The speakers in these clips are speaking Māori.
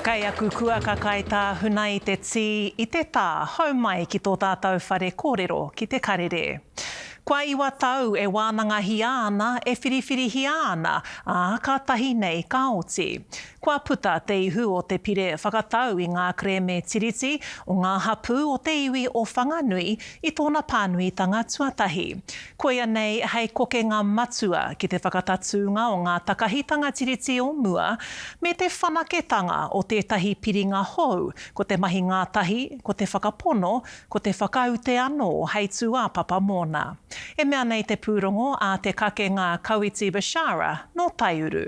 Kei aku kua ka kai tā Huna i te tī, i te tā, hau mai ki tō tātou whare kōrero ki te karere. Kua iwa tau e wānangahia ana, e whiriwhirihia ana, ā, kātahi nei ka oti. Kua puta te ihu o te pire whakatau i ngā kerēme Tiriti o ngā hapū o te iwi o Whanganui i tōna pānuitanga tuatahi. Koia nei hei kokenga matua ki te whakatatūnga o ngā takahitanga Tiriti o mua me te whanaketanga o tētahi piringa hou, ko te mahi ngātahi, ko te whakapono, ko te whakaute anō hei tūāpapa mōna. E mea nei te pūrongo a te kakenga Kawiti Bishara nō Taiuru.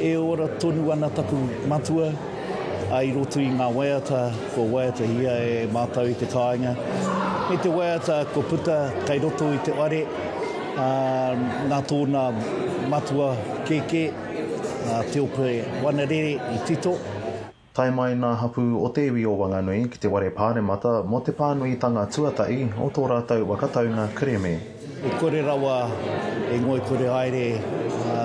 E ora tonu ana taku matua i roto i ngā waiata kua waiatahia e mātou i te kāinga, me te waiata kua puta kei roto i te whare nā tōna matua kēkē, a Teope Wanarere i tito. Tae mai ngā hapū o te iwi o Wanganui ki te Ware Pāremata mō te pānuitanga tuatahi o tō rātou waka taunga kereme. E kore rawa e ngoikore haere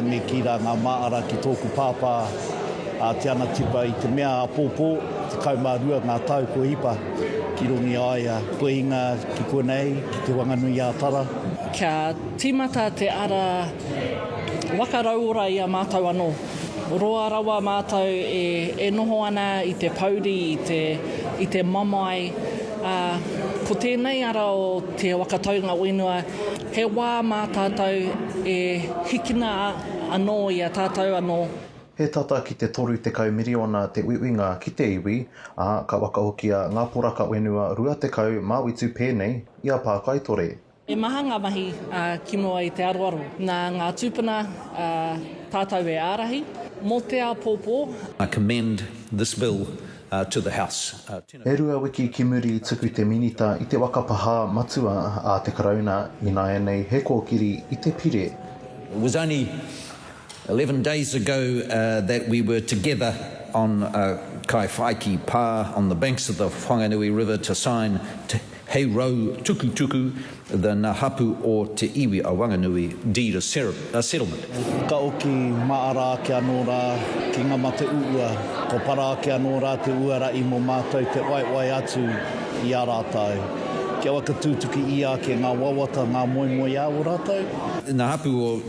me kī rā ngā māʻara ki tōku pāpā a Te Anatipa i te mea āpōpō, tekau mā rua ngā tau kua hipa ki rongi a ia kua hinga ki konei ki Te Whanganui-ā-Tara. Kia tīmata te ara waka rauora i a mātou anō. Roa rawa mātou e noho ana i te pouri, i te mamae, ā, ko tēnei ara o Te Waka Taunga Whenua, he wā mā tātou e hikina anō i a tātou anō. He tata ki te 30 miriona te uiuinga ki te iwi, ā, ka wakahokia ngā poraka whenua 20 māutu pēnei i a Pākaitore. He maha ngā mahi kino ai te aroaro. Nā ngā tūpuna tātou e ārahi mō te āpōpō. I commend this bill to the House. Tēnā E rua wiki ki muri i tuku te Minita i te waka pahā matua a te Karauna ināianei he kōkiri i te pire. It was only Eleven days ago that we were together on Kaiwhaiki pa on the banks of the Whanganui river to sign te Hei Rau Tukutuku, the Na Hapu o te Iwi a Wanganui deed of settlement. Ka oki maara ake anō rā ki nga mate uua, ko para ake anō rā te uara i mo mātou te waewae atu i a rātou. Kia waka tūtuki ia ake ngā wawata, ngā moemoeā o rātou. Na Hapu o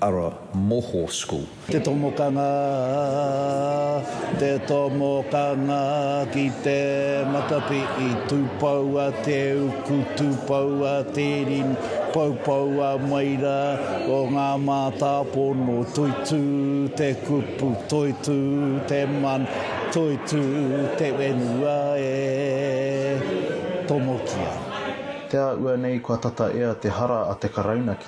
Ara Moho School. Te tomokanga, te tomokanga ki te matapihi Tūpoua te uku, tūpoua te rinu Poupoua mai rā o ngā mātāpono Toitū te kupu, toitū te mana Toitū te whenua e tomokia. Te āhua nei kua tata ea te hara a te Karauna ki.